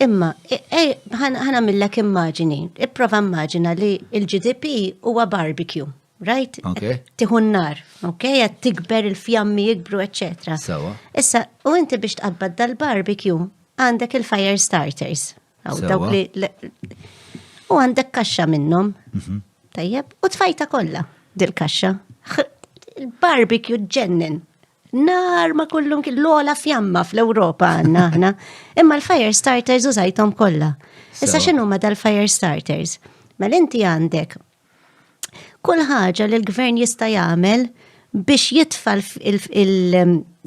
Imma, ħana millek immaġini, ipprova immaġina li il-GDP huwa barbecue, right? Tiħu n-nar, ok? Għed tikber il-fjammi jikbru, etc. Issa, u inti biex tqabbad dal-barbecue, għandek il-fire starters. U għandek kaxxa minnom. Mhm. Tajjeb, u tfajta kollha dil-kaxxa. Il-barbecue ġennen. nar ma kullum kien l-ola fjamma fl-Ewropa għanna aħna. Imma l-fire starters użajtom kollha. Issa x'inhu ma dal-fire starters? Mel mela inti għandek kull ħaġa li l-gvern jista' jagħmel biex jitfa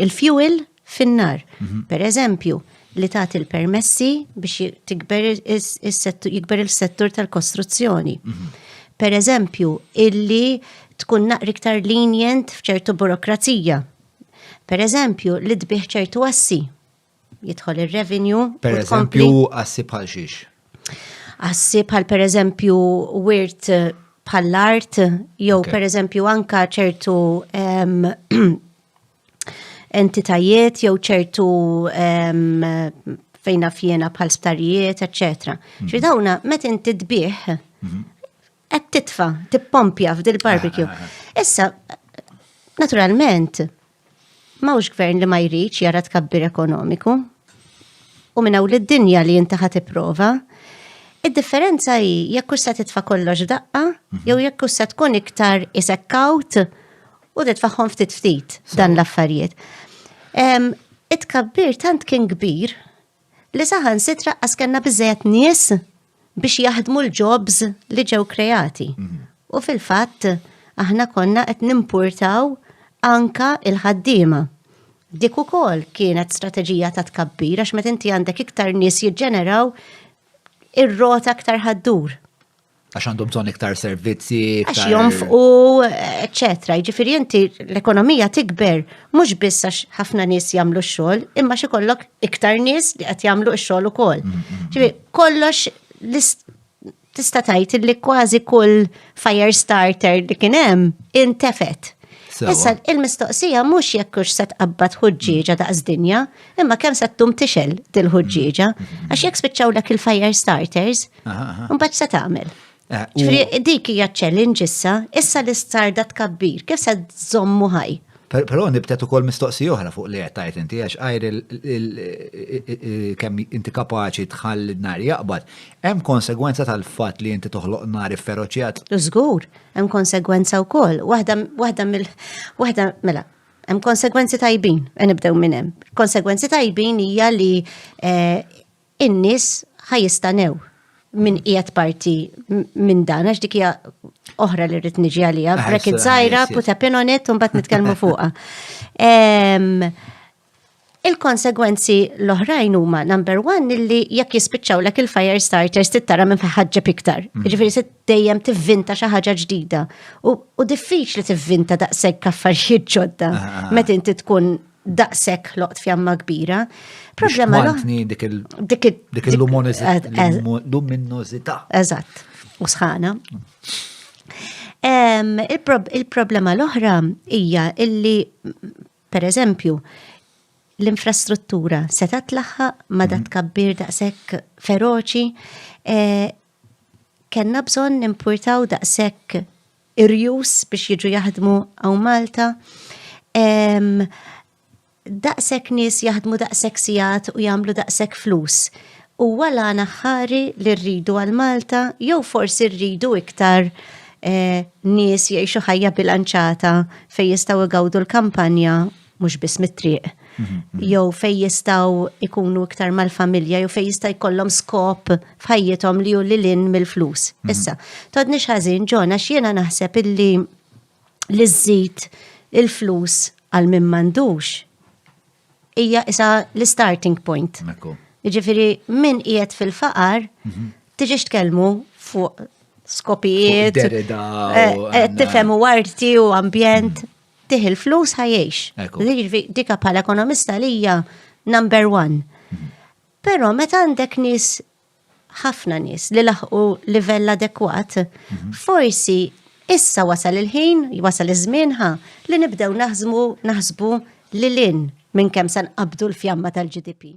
il-fuel fin-nar. Mhm. Per eżempju, li tagħti l-permessi biex tikber jikber il-settur tal-kostruzzjoni. Mhm. Per eżempju, illi tkun naqri iktar lenient f'ċertu burokrazija. Per eżempju, li tbih ċertu assi. Jidħol ir-revenju. Per eżempju, assi bħal xiex. Assi bħal per eżempju wirt eh, bħall-art, jew per eżempju anka ċertu entitajiet jew ċertu fejna fjena bħal sptarijiet, etc. Mhm. Ġi dawna, met inti tbieħ, mhm. qed titfa, tippompja f'dil barbecue. Ah, ah, ah. Issa, naturalment, mawx gvern li ma jridx jara tkabbir ekonomiku. U minna u l-dinja li jinti ħat prova Id-differenza hi jekk se titfa' kollox daqqa, mhm. jew jekk se tkun iktar isekkawt U titfaħħom ftit ftit dan l-affarijiet. It-kabbir tant kien kbir li saħan sitra għaskenna bizzejet nies biex jaħdmu l-jobs li ġew kreati. Mhm. U fil-fatt, aħna konna qed nimpurtaw anka il-ħaddiema. Dik ukoll kienet strateġija ta' tkabbir għax meta inti għandek iktar nies jiġġeneraw ir-rota aktar ħaddur. għax għandhom bżonn iktar servizzi. Għax jonfqu, eccetera. Ġifiri inti l-ekonomija tikber, mhux biss għax ħafna nies jagħmlu x-xogħol, imma xi kollok iktar nies li qed jagħmlu x-xogħol ukoll. Mm, mm, mm. Ġifiri, kollox tista' tgħid li kważi kull fire starter li kien hemm intefet. Issa il-mistoqsija mhux jekk hux se tqabbad ħuġġieġa daqs dinja, imma kemm se tum tixel dil-ħuġġieġa, għax jekk spiċċawlek il-fire starters, Mbagħad se tagħmel. Eh, Ġifri, dik hija challenge issa, issa li starda tkabbir, kif se żommu ħaj? Però nibtet ukoll mistoqsi oħra fuq li qed tajt inti għax għajr kemm inti kapaċi tħalli nar jaqbad, hemm konsegwenza tal-fatt li inti toħloq nar ifferoċjat. Żgur, hemm konsegwenza wkoll. Waħda waħda mill waħda mela, hemm konsegwenzi tajbin, e nibdew minn hemm. Konsegwenzi tajbin hija li eh, in-nies ħa jistanew min qiegħed parti minn dan, għax dik hija oħra li rrid niġi għalija, ah, brekit żgħira, put a pin on it, u mbagħad nitkellmu fuqha. Il-konsegwenzi l-oħrajn huma number one illi jekk jispiċċaw lek il-fire starters tittara minn ħaġġeb iktar. Mm. Ġifieri se dejjem tivvinta xi ħaġa ġdida. U diffiċli tivvinta daqshekk affarijiet ġodda ah, ah, meta inti tkun daqshekk ħloqt fjamma kbira. Problema l-oħra. Dik il-luminożità. Eżatt, u sħana. Il-problema l-oħra hija illi, per eżempju, l-infrastruttura seta tlaħħaq ma dat mhm. kabbir daqshekk feroċi, eh, kellna bżonn nimpurtaw daqshekk irjus biex jiġu jaħdmu għaw Malta. Daqshekk nies jaħdmu daqshekk sigħat u jagħmlu daqshekk flus. Huwa l-għana ħari li rridu għal Malta jew forsi rridu iktar eh, nies jgħixu ħajja bilanċata fejn jistgħu jgawdu l-kampanja mhux biss mit-triq, mhm. jew fej jistgħu ikunu iktar mal-familja, jew fej jista' jkollhom skop f'ħajjithom li hu lilin mill-flus. Mhm. Issa, todni ħażin ġona x'jiena naħseb illi li żżid il-flus għal min m'għandux hija isa l-starting point. Jiġifieri min qiegħed fil-faqar mhm. tiġix tkellmu fuq skopijiet, eh, eh, tifhem u arti u ambjent. tih il-flus ħajiex. Dika bħala ekonomista li hija number one. Mhm. Però meta għandek nis ħafna nis li laħqu livell adekwat, mhm. forsi issa wasal il-ħin, wasal iż-żmien ħa li nibdew naħzmu naħsbu lilin minn kemm san qabdu l-fjamma tal-GDP.